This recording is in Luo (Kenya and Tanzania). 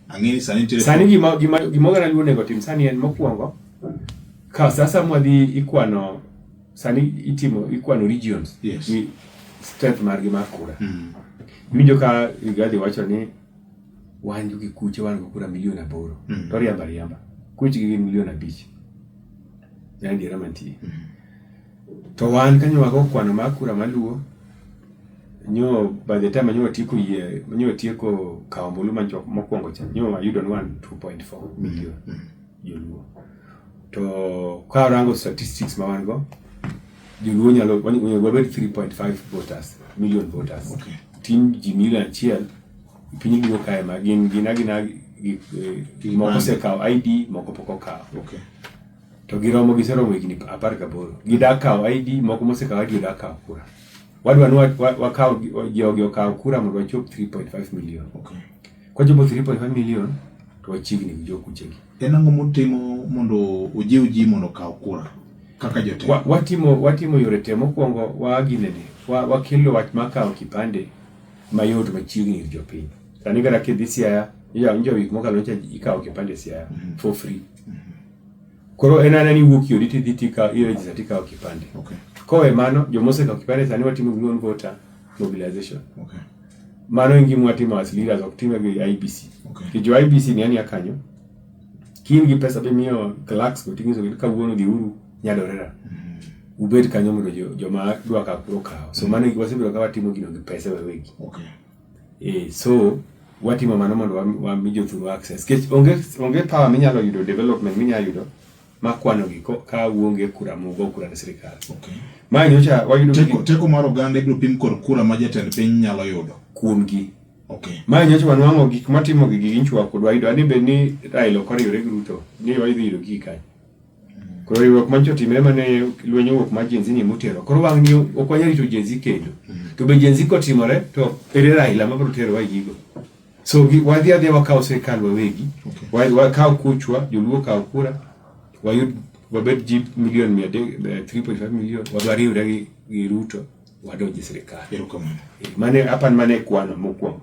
Ang'eni sani nitiere sani gima gima gima oganda luo onego tim sani en mokwongo ka sa sa mwadhi ikwano sani itimo ikwano regions Yes. ni strength margi mar kura Mm. iwinjo ka Rigathi wacho ni wan gi kuche wan go kura milion aboro Mm. to riamba riamba kuchgi gin milion abich en adiera mantie Mm. To wan kanyo wago kwano mar kura maluwo, nyo by the time nyo watieko yie, nyo watieko kawo ombulu ma jok mokwongo cha, nyo wayudo ni wan 2.4 million joluo. To ka warango statistics ma wan go, joluo nyalo, onego wabed 3.5 voters, million voters. Okay. Tin ji milion achiel, piny luo kae ma gin gina gina gi- eh, Gin moko man. osekawo ID, moko pok okawo. Okay. to giromo giseromo higni apar gaboro gidak kawo ID moko mosekawo ID odak kawo kura wadwa ni wakaw jogi okaw kura mondo wachop 3.5 million okay. kwachopo 3.5 million to wachiegni gi jokuchegi en ang'o mutimo mondo ojiw ji mondo okaw kura kaka jotelo wa, watimo watimo yore te mokwongo waginene wa, wakelo wach ma kawo kipande mayot machiegni gi jopiny sani kata kidhi siaya iyawo njo wik mokalo ncha ikawo kipande siaya mm -hmm. for free mm -hmm. Koro en anani iwuok yodi tidhi tika irejista tikawo kipande. Okay. Kowe mano joma osekawo kipande sani watimo gi non voter mobilization. Okay. Mano en gima watimo as leaders ok time gi IBC. Okay. Ki jo IBC ni ani akanyo. Kin gi pesa be miyo clerks go tingiso gi kawuono gi uru nyadorera. Mm -hmm. Ubed kanyo mondo joma dwa ka kuro kawo. So mm -hmm. mano wasebiro ka watimo gino gi pesa wawegi. Okay. Eh, so watimo mano mondo wami jothuru access. Kech onge, onge power minyalo yudo development minyalo yudo ma kwano gi ka uonge kura mogo kura ne sirikal. Okay. Ma nyocha wayudo teko, gi... teko mar oganda ibiro pim kod kura ma jatend piny nyalo yudo. Kuom gi. Okay. Ma nyocha wanwang'o gik matimo gi gi nchwa kod wayudo ani be ni Raila ok oriwre gi Ruto ni wayudo gi kanyo. Koro riwruok manyocha otimre mane lweny owuok mar Gen Z ni motero. Koro wang' ni ok wanyal rito Gen Z kendo. To be Gen Z kotimore to ere Raila ma biro tero wa gigo. So wadhi adhi wakaw sirkal wawegi. Okay. Wakaw kuchwa, joluo kaw kura, wayud wabed ji milion mia adek, 3.5 eh, milion, wadwa riwre gi, gi Ruto, wadonji sirkal. Erokamano. Eh, mane, apan mane kwano mokwongo.